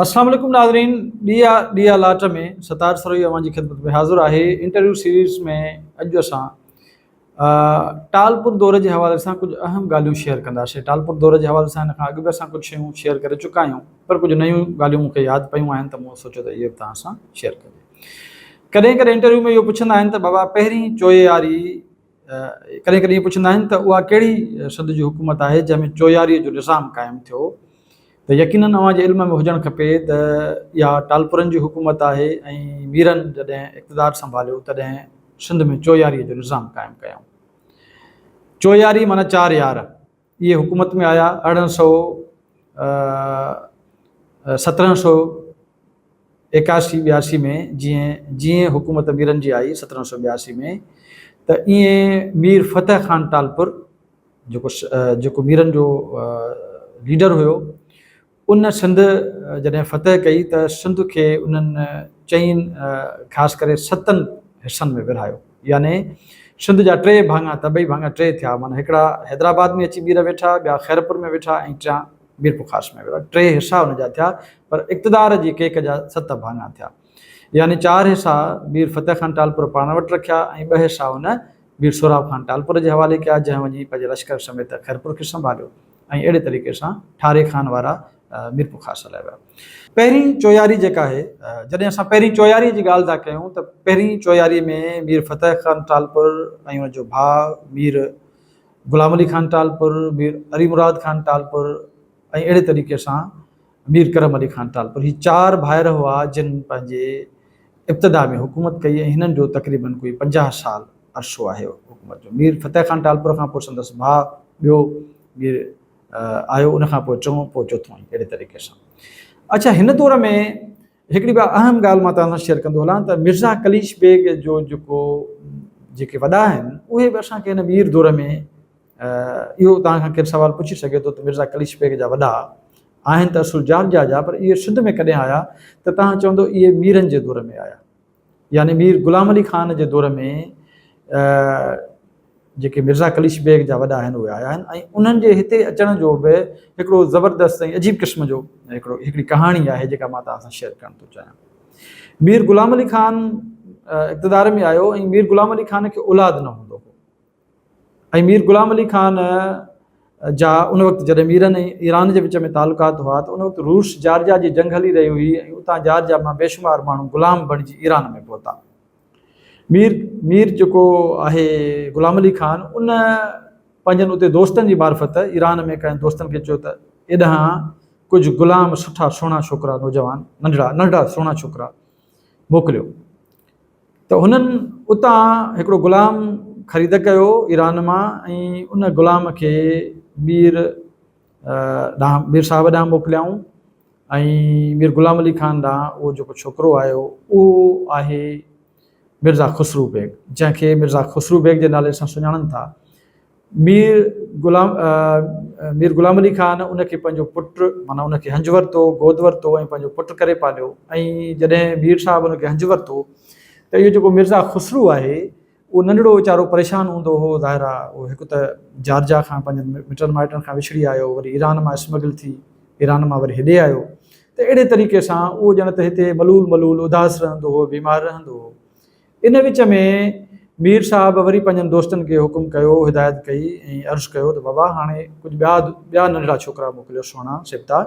السلام عليڪم ناظرين ڏيئا ڏيئا لاٽ ۾ ستار سروهي اوهان جي خدمت ۾ حاضر آهي انٽرويو سيريز ۾ اڄ اسان ٽالپور دور جي حوالي سان ڪجهه اهم ڳالهيون شيئر ڪنداسين ٽالپور دور جي حوالي سان هن کان اڳ به اسان ڪجهه شيون شيئر ڪري چڪا آهيون پر ڪجهه نيون ڳالهيون مون کي ياد پيون آهن ته مون سوچيو ته اهي به توهان سان شيئر ڪجي ڪڏهن ڪڏهن انٽرويو ۾ اهو پڇندا آهن ته بابا پهرين چوياري ڪڏهن ڪڏهن اهو پڇندا آهن ته اها ڪهڙي سنڌ جي حڪومت آهي جنهن ۾ چوياري جو نظام قائم ٿيو ته يقينن اوهان جي علم ۾ هجڻ کپي ته اها ٽالپرن جي حڪومت آهي ۽ ميرن جڏهن اقتدار سنڀاليو تڏهن سنڌ ۾ چوياري جو نظام قائم ڪيائون. چوياري معنيٰ چار يار. اهي حڪومت ۾ آيا ارڙهن سئو سترهن سئو ايڪاسي ٻياسي ۾ جيئن جيئن حڪومت ميرن جي آئي سترهن سئو ٻياسي ۾ ته ايئن مير فتح خان ٽالپر جيڪو جيڪو ميرن جو ليڊر هيو ان سنڌ جڏهن فتح ڪئي ته سنڌ کي انهن چئن خاص ڪري ستن حصن ۾ ورهايو يعني سنڌ جا ٽي ڀاڱا تبعي ڀاڱا ٽي ٿيا معنيٰ هڪڙا حيدرآباد ۾ اچي ٻير ويٺا ٻيا خيرپور ۾ ويٺا ۽ ٽيان ميرپورخاص ۾ ويٺا ٽي حصا ان جا ٿيا پر اقتدار جي ڪيڪ جا ست ڀاڱا ٿيا يعني چار حصا مير فتح خان ٽالپر پاڻ وٽ رکيا ۽ ٻه حصا ان مير سهراب خان ٽالپر جي حوالي ڪيا جنهن وڃي پنهنجي لشڪر سميت خيرپور کي سنڀاليو ۽ اهڙي طريقي سان ٺاري خان وارا ميرپورخاص هليا ويا. پهرين چوياري جيڪا آهي، جڏهن اسان پهرين چوياري جي ڳالهه ٿا ڪيون ته پهرين چوياري ۾ مير فتح خان ٽالپر ۽ ان جو ڀاء مير غلام علي خان ٽالپر، مير علي مراد خان ٽالپر ۽ اهڙي طريقي سان مير ڪرم علي خان ٽالپر هي چار ڀائر هئا جن پنهنجي ابتدا ۾ حڪومت ڪئي ۽ هنن جو تقريبن ڪوئي پنجاهه سال عرصو آهي حڪومت جو مير فتح خان ٽالپر کان پوء سندس ڀاء ٻيو مير آيو ان کان پوء ٽيون پوء چوٿون ائين اهڙي طريقي سان اڇا هن دور ۾ هڪڙي ٻيا اهم ڳالهه مان توهان سان شيئر ڪندو هلان ته مرزا قليش بيگ جو جيڪو جيڪي وڏا آهن اهي به اسان کي هن مير دور ۾ اهو توهان کان ڪير سوال پڇي سگهي ٿو ته مرزا قليش بيگ جا وڏا آهن ته اصل جارجا جا پر اهي سنڌ ۾ ڪڏهن آيا ته توهان چوندو اهي ميرن جي دور ۾ آيا يعني مير غلام علي خان جي دور ۾ جيڪي مرزا قليش بيگ جا وڏا آهن اهي آيا آهن ۽ انهن جي هتي اچڻ جو به هڪڙو زبردست ۽ عجيب قسم جو هڪڙو هڪڙي ڪهاڻي آهي جيڪا مان توهان سان شيئر ڪرڻ ٿو چاهيان مير غلام علي خان اقتدار ۾ آيو ۽ مير غلام علي خان کي اولاد نه هوندو هو ۽ مير غلام علي خان جا ان وقت جڏهن ميرن ۽ ايران جي وچ ۾ تعلقات هئا ته ان وقت روس جارجيا جي جنگ هلي رهي هئي ۽ اتان جارجيا مان بيشمار ماڻهو غلام بڻجي ايران ۾ پهتا. مير مير جيڪو آهي غلام علي خان ان پنهنجن اتي دوستن جي معرفت ايران ۾ ڪنهن دوستن کي چيو ته ايڏانهن ڪجهه غلام سٺا سهڻا ڇوڪرا نوجوان ننڍڙا ننڍڙا سهڻا ڇوڪرا موڪليو. ته هنن اتان هڪڙو غلام خريد ڪيو ايران مان ۽ ان غلام کي مير ڏانهن مير صاحب ڏانهن موڪليائون ۽ مير غلام علي خان ڏانهن اهو جيڪو ڇوڪرو آيو اهو آهي مرزا خسرو بيگ جنهن کي مرزا خسرو بيگ جي نالي سان سڃاڻن ٿا مير غلام مير غلام علي خان ان کي پنهنجو پٽ معنيٰ ان کي هنج ورتو، گود ورتو ۽ پنهنجو پٽ ڪري پاليو ۽ جڏهن مير صاحب ان کي هنج ورتو ته اهو جيڪو مرزا خسرو آهي اهو ننڍڙو ويچارو پريشان هوندو هو ظاهر آهي اهو هڪ ته جارجا کان پنهنجن مٽن مائٽن کان وڇڙي آيو وري ايران مان اسمگل ٿي ايران مان وري هيڏي آيو ته اهڙي طريقي سان اهو ڄڻ ته هتي ملول ملول اداس رهندو هو بيمار رهندو هو ان وچ ۾ مير صاحب وري پنهنجن دوستن کي حڪم ڪيو، هدايت ڪئي ۽ عرض ڪيو ته بابا هاڻي ڪجهه ٻيا ٻيا ننڍڙا ڇوڪرا موڪليو سهڻا، سبتا،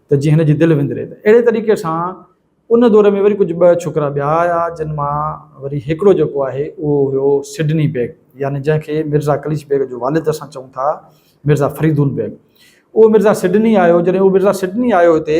ته جيئن هن جي دل وندري ته اهڙي طريقي سان ان دور ۾ وري ڪجهه ٻه ڇوڪرا ٻيا آيا جن مان وري هڪڙو جيڪو آهي اهو هيو سڊني بيگ يعني جنهن کي مرزا قليچ بيگ جو والد اسان چئون ٿا مرزا فريدون بيگ اهو مرزا سڊني آيو جڏهن اهو مرزا سڊني آيو هتي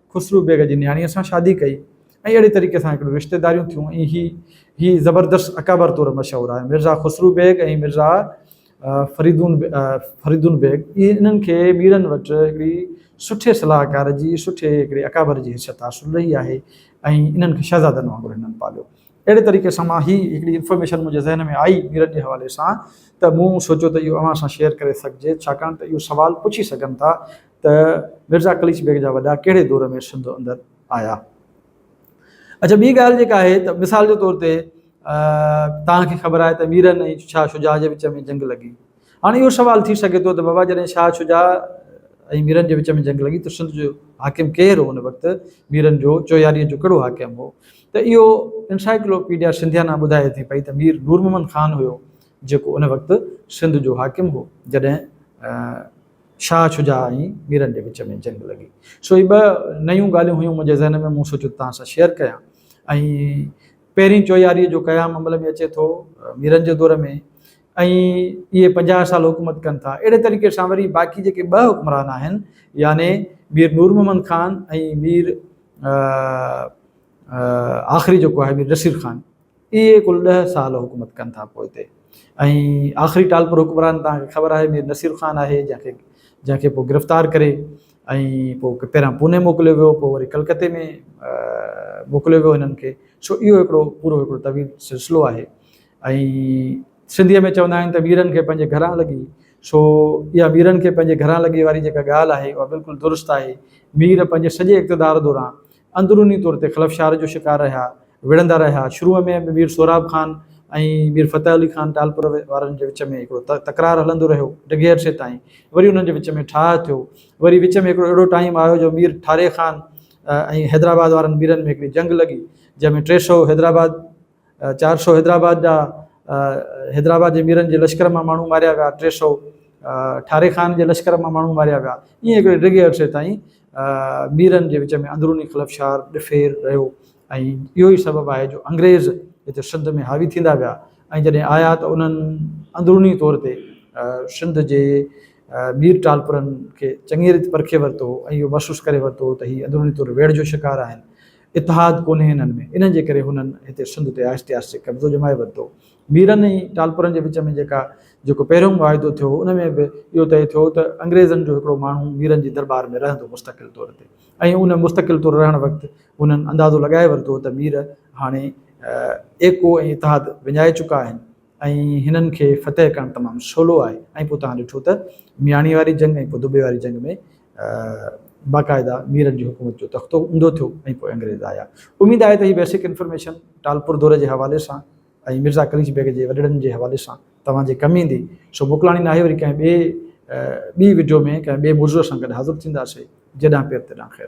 خسرو بيگ جي نياڻيء سان شادي ڪئي ۽ اهڙي طريقي سان هڪڙيون رشتيداريون ٿيون ۽ هي هي زبردست اڪابر طور مشهور آهي. مرزا خسرو بيگ ۽ مرزا فريدون فريدون بيگ اهي انهن کي ميرن وٽ هڪڙي سٺي صلاحڪار جي سٺي هڪڙي اڪابر جي حيثيت حاصل رهي آهي ۽ انهن کي شهزادن وانگر هنن پاليو. اهڙي طريقي سان مان هي هڪڙي انفارميشن منهنجي ذهن ۾ آئي ميرن جي حوالي سان ته مون سوچيو ته اهو اوهان سان شيئر ڪري سگهجي ڇاڪاڻ ته اهو سوال پڇي سگهن ٿا ته مرزا قليچ بيگ جا وڏا ڪهڙي دور ۾ سنڌ اندر آيا. اڇا ٻي ڳالهه جيڪا آهي ته مثال جي طور تي توهان کي خبر آهي ته ميرن ۽ شاهه شجاع جي وچ ۾ جنگ لڳي. هاڻي اهو سوال ٿي سگهي ٿو ته بابا جڏهن شاهه شجاع ۽ ميرن جي وچ ۾ جنگ لڳي ته سنڌ جو حاڪم ڪير هو ان وقت ميرن جو چوياري جو ڪهڙو حاڪم هو ته اهو انسائيڪلو پيڊيا سنڌيانا ٻڌائي ٿي پئي ته مير نور محمد خان هيو جيڪو ان وقت سنڌ جو حاڪم هو جڏهن شاهه شجاع ۽ ميرن جي وچ ۾ جنگ لڳي. سو هي ٻه نيون ڳالهيون هيون منهنجي ذهن ۾ مون سوچيو ته توهان سان شيئر ڪيان ۽ پهرين چوياري جو قيام عمل ۾ اچي ٿو ميرن جي دور ۾ ۽ اهي پنجاهه سال حڪومت ڪن ٿا اهڙي طريقي سان وري باقي جيڪي ٻه حڪمران آهن يعني مير نور محمد خان ۽ مير آخري جيڪو آهي مير نصير خان اهي ڪل ڏهه سال حڪومت ڪن ٿا پوء تي ۽ آخري ٽالپر حڪمران توهان کي خبر آهي مير نصير خان آهي جنهن کي جنهن کي پوء گرفتار ڪري ۽ پوء پهريان پوني موڪليو ويو پوء وري ڪلڪتي ۾ موڪليو ويو هنن کي سو اهو هڪڙو پورو هڪڙو طويل سلسلو آهي ۽ سنڌيء ۾ چوندا آهن ته ويرن کي پنهنجي گهران لڳي سو اها ويرن کي پنهنجي گهران لڳي واري جيڪا ڳالهه آهي اها بلڪل درست آهي مير پنهنجي سڄي اقتدار دوران اندروني طور تي خلفشار جو شڪار رهيا، وڙهندا رهيا، شروع ۾ به مير سهراب خان ۽ مير فتح علي خان ٽالپر وارن جي وچ ۾ هڪڙو تڪرار هلندو رهيو، ڊگهي عرصي تائين وري انهن جي وچ ۾ ٺاهه ٿيو، وري وچ ۾ هڪڙو اهڙو ٽائيم آيو جو مير ٺاري خان ۽ حيدرآباد وارن ميرن ۾ هڪڙي جنگ لڳي جنهن ۾ ٽي سؤ حيدرآباد. چار سؤ حيدرآباد جا حيدرآباد جي ميرن جي لشڪر مان ماڻهو ماريا ويا، ٽي سؤ ٺاري خان جي لشڪر مان ماڻهو ماريا ويا، ائين هڪڙي ڊگهي عرصي تائين ميرن جي وچ ۾ اندروني خلفشار، ڏڦير، رهيو ۽ اهو ئي سبب آهي جو انگريز هتي سنڌ ۾ حاوي ٿيندا ويا ۽ جڏهن آيا ته انهن اندروني طور تي سنڌ جي مير ٽالپرن کي چڱيء ريت پرکي ورتو هو ۽ اهو محسوس ڪري ورتو هو ته هي اندروني طور ويڙهه جو شڪار آهن. اتحاد ڪونهي هنن ۾، ان جي ڪري هنن هتي سنڌ تي آهستي آهستي قبضو ڄمائي ورتو. ميرن ۽ ٽالپرن جي وچ ۾ جيڪا جيڪو پهريون معاهدو ٿيو هو، ان ۾ به اهو طئي ٿيو هو ته انگريزن جو هڪڙو ماڻهو ميرن جي درٻار ۾ رهندو مستقل طور تي ۽ ان مستقل طور رهڻ وقت هنن اندازو لڳائي ورتو هو ته مير هاڻي ايڪو ۽ اتحاد وڃائي چڪا آهن، ۽ هنن کي فتح ڪرڻ تمام سولو آهي ۽ پوء توهان ڏٺو ته مياڻي واري جنگ ۽ پوء دبي واري جنگ ۾ باقاعده ميرن جي حڪومت جو تختو اونڌو ٿيو ۽ پوء انگريز آيا. اميد آهي ته هي بيسڪ انفارميشن ٽالپور دور جي حوالي سان ۽ مرزا قليچ بيگ جي وڏڙن جي حوالي سان توهان جي ڪم ايندي. سو موڪلاڻي ناهي وري ڪنهن ٻئي ٻي وڊيو ۾ ڪنهن ٻئي موضوع سان گڏ حاضر ٿينداسي. جيڏانهن پير تيڏانهن خير.